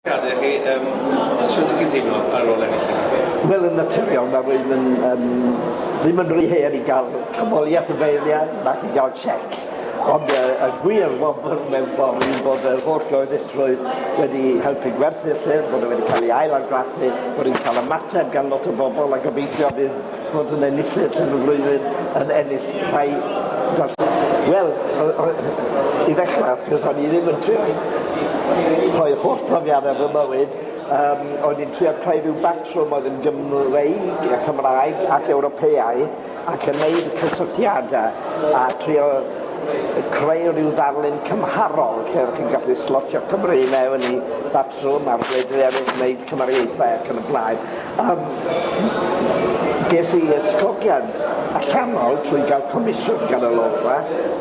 Gad i chi, yym, shwt ydych chi'n teimlo ar ôl ennill hyn? Wel, yn naturiol, mae rwy'n yn, yn, ddim yn rhy hen i gael canmoliaeth y beirniaid nac i gael chec. Ond y, y gwir wobr mewn ffordd yw bod yr holl gyhoeddusrwydd wedi helpu gwerthu'r llyfr, bod e wedi cael ei ail-argraffu, bod e'n cael ymateb gan lot o bobl a gobeithio bydd fod yn enillydd yn y flwyddyn yn ennill rhai gors- Wel, o- o- i ddechrau, wrth gwrs, o'n i ddim yn trio rhoi holl brofiadau fy mywyd, yym, o'n i'n trio creu rhyw batrwm oedd yn Gymreig, a Chymraeg ac Ewropeaidd, ac yn neud y cysylltiadau, a trio creu rhyw ddarlun cymharol lle o'ch chi'n gallu slotio Cymru i mewn i batrwm Sôn am wledydd eraill neu cymariaethau ac yn y blaen. Yym ges i ysgogiad allanol trwy gael comisiwn gan y Lolfa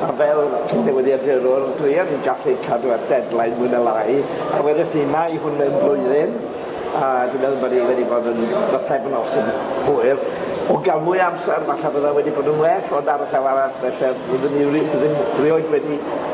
a fel cyn-newyddiadurwr dwi yn gallu cadw at deadline mwy na lai a wedais i mae hwn mewn blwyddyn a dwi'n meddwl bod hi wedi bod yn bythefnos yn hwyr. O gael mwy o amser falle bydda wedi bod yn well ond ar y llaw arall felly byddwn i ri- byddwn rioed wedi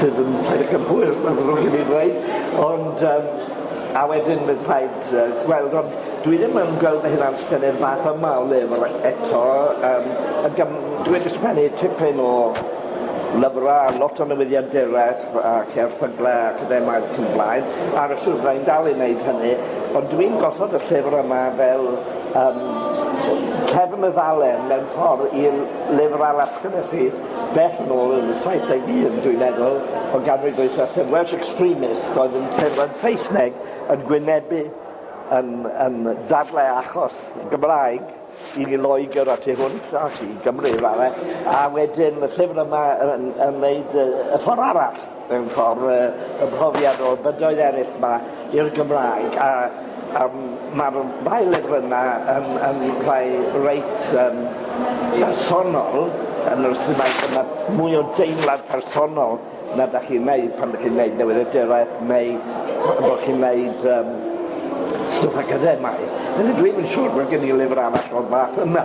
sydd yn rhaid y cymhwyr mae'n ddrwg gen i ddweud ond yym a wedyn bydd rhaid yy gweld ond dwi ddim yn gweld fy hunan sgwennu'r fath yma o lyfr eto yym yn gym- dwi wedi sgwennu tipyn o lyfra a lot o newyddion dereth ac erthygle academaidd ac yn y blaen ar y swyddfa i'n dal i neud hynny ond dwi'n gosod y llyfr yma fel yym cefn y ddalen mewn ffor i'r lyfr arall sgynnes i Bell yn ôl yn y 71, dwi'n meddwl, o ganrif ddwytha, sef Welsh Extremist oedd yn cerdded Saesneg yn gwynebu, yn yn dadlau achos Gymraeg i ni Loegr a tu hwnt a i Gymru i raddau, a wedyn y llyfr yma yn yn wneud y y ffor arall. Mewn ffordd, y y mhrofiad o bydoedd eraill 'ma i'r Gymraeg a a ma'r ddau lyfr yna yn yn rhai reit yym bersonol yn yr ystyr mai dyma mwy o deimlad personol na 'dach chi'n neud pan 'dych chi'n neud newyddiaduraeth neu bo' chi'n neud yym stwff academaidd. Felly dwi'm yn siŵr bod gen i lyfr arall o'r fath yna.